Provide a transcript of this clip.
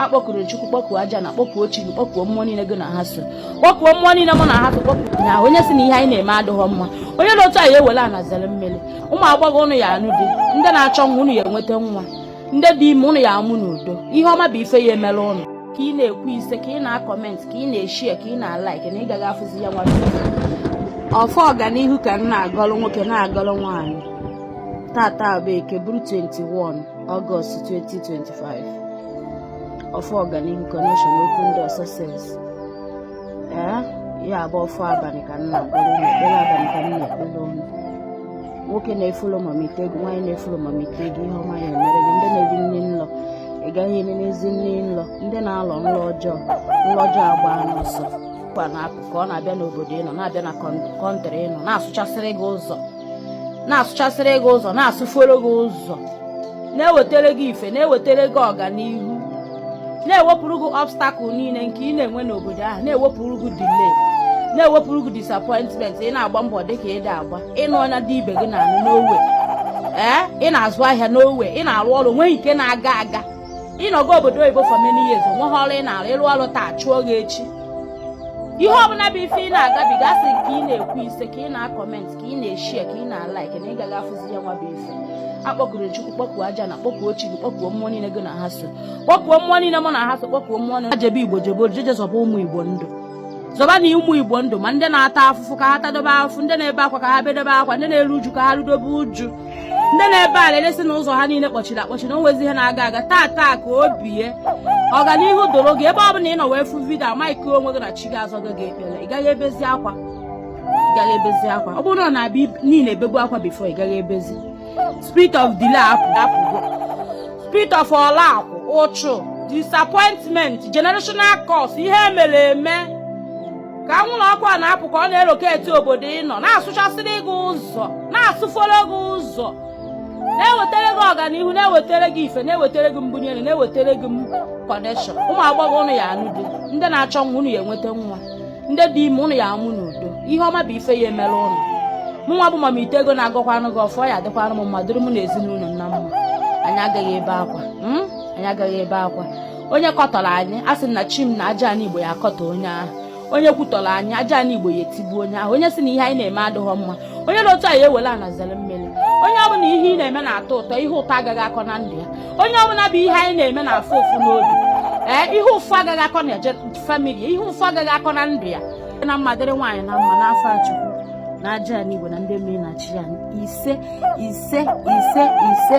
akpọkuru chukwu kpọkuo ajana kpọkuo chi gị kpọkuo mmụọ niile gị na ha so kpọkuo mmụọ niile mụ na ha so kpọkuo ha onye si na ihe anyị na-eme adịghọ mma onye dị otu a ya ewere ana zere mmiri ụmụ agbọghọ ụnụ ya anụ di ndị na-achọ nwa ụnụ ya enweta nwa ndị dị ime ụnụ ya amụ n'udo ihe ọma bụ ife ya emere ụnụ ka ị na-ekwu ise ka ị na-akọmentị ka ị na-eshie ka ị na-alaik na ị gaghị afụzi ya nwa ọfọ ọganihu ka m na-agọrọ nwoke na-agọrọ nwaanyị tata bụ eke bụrụ 21 Ọgọst 2025 ọfọ ọganihu kọneshọn open door success ee ya bụ ọfọ abalị ka m na-agọrọ ụnụ ekpere abalị ka m na-ekpere ụnụ nwoke na-efolo mama ite ego nwaanyị na-efolo mama ite ego ihe ọma ya emere gị ndị na-eri nri nlọ ị gaghị eri n'ezi nri nlọ ndị na-alọ nlọ ọjọọ nlọ ọjọọ agbaana ọsọ kwa na-apụ ka ọ na-abịa n'obodo ị nọ na-abịa na kọntrị ị nọ na-asụchasịrị gị ụzọ na-asụchasịrị gị ụzọ na-asụforo gị ụzọ na-ewetara gị ife na-ewetara gị ọganihu na-ewepụrụ gị obstacle niile nke ị na-enwe n'obodo ahụ na-ewepụrụ gị delay na-ewepụrụ gị disappointment ị na-agba mbọ dị ka ị da agba ị nụọ nya di ibe gị na-anụ no way ee ị na-azụ ahịa no way ị na-arụ ọrụ nweghị nke na-aga aga ị nọgo obodo oyibo for many years onweghị ọrụ ị na-arụ ị rụọ ọrụ taa achụọ gị echi ihe ọbụla bụ ife ị na-agabiga asị ka ị na-ekwu ise ka ị na-akọment ka ị na-eshie ka ị na-alaik na ị gaghị afụzi ya nwa bụ ife akpọkuru chukwu kpọkuo ajana kpọkuo chi gị kpọkuo mmụọ niile gị na ha so kpọkuo mmụọ niile mụ na ha so kpọkuo mmụọ niile jebe igbo jebe oru je je zọba ụmụ igbo ndụ zọba na ụmụ igbo ndụ ma ndị na-ata afụfụ ka ha tadobe afụfụ ndị na-ebe akwa ka ha bedobe akwa ndị na-eru uju ka ha rudobe uju ndị na-ebe alịlị sị na ụzọ ha niile kpọchiri akpọchi na onwezi ihe na-aga aga taa taa ka o bie ọganihu doro gị ebe ọ bụla ị nọ wee fụ vidio amaghị onwe gị na chi gị azago gị ekpere ị gaghị ebezi akwa ị gaghị ebezi akwa ọ bụrụ na ọ na-abịa niile ebebu akwa before ị gaghị ebezi spirit of delay apụ apụgo spirit of ọla akụ ụchụ disappointment generational curse ihe emere eme ka anwụrụ ọkụ a na-apụ ka ọ na-eloketi obodo ị nọ na-asụchasịrị gị ụzọ na-asụforo gị ụzọ na-ewetara gị ọganihu na-ewetara gị ife na-ewetara gị mbunye elu na-ewetara gị kọneshọn ụmụ agbọghọ ụnụ ya anụ di ndị na-achọ nwa ụnụ ya enweta nwa ndị dị ime ụnụ ya amụ n'udo ihe ọma bụ ife ya emere ụnụ mụ nwa bụ mama ite ego na-agọkwanụ gị ọfọ ya adịkwanụ m mma dịrị mụ na ezinụlọ na mma anyị agaghị ebe akwa hmm? anyị agaghị ebe akwa onye kọtọrọ anyị a sị na chi m na ajana igbo ya akọtọ onye ahụ onye kwutọrọ anyị ajana igbo ya etigbu onye ahụ onye si na ihe anyị na-eme adịghọ mma onye dị otu a ya ewere ana zere mmiri onye ọbụla ihe ị na-eme na-atọ ụtọ ihe ụtọ agaghị akọ na ndụ ya onye ọbụla bụ ihe anyị na-eme na-afụ ụfụ n'obi ee ihe ụfụ agaghị akọ na eje famili ihe ụfụ agaghị akọ na ndụ ya na mma dịrị nwaanyị na mma n'afa chukwu na ajana n'igwe na ndị mmiri na chi ya ise ise ise ise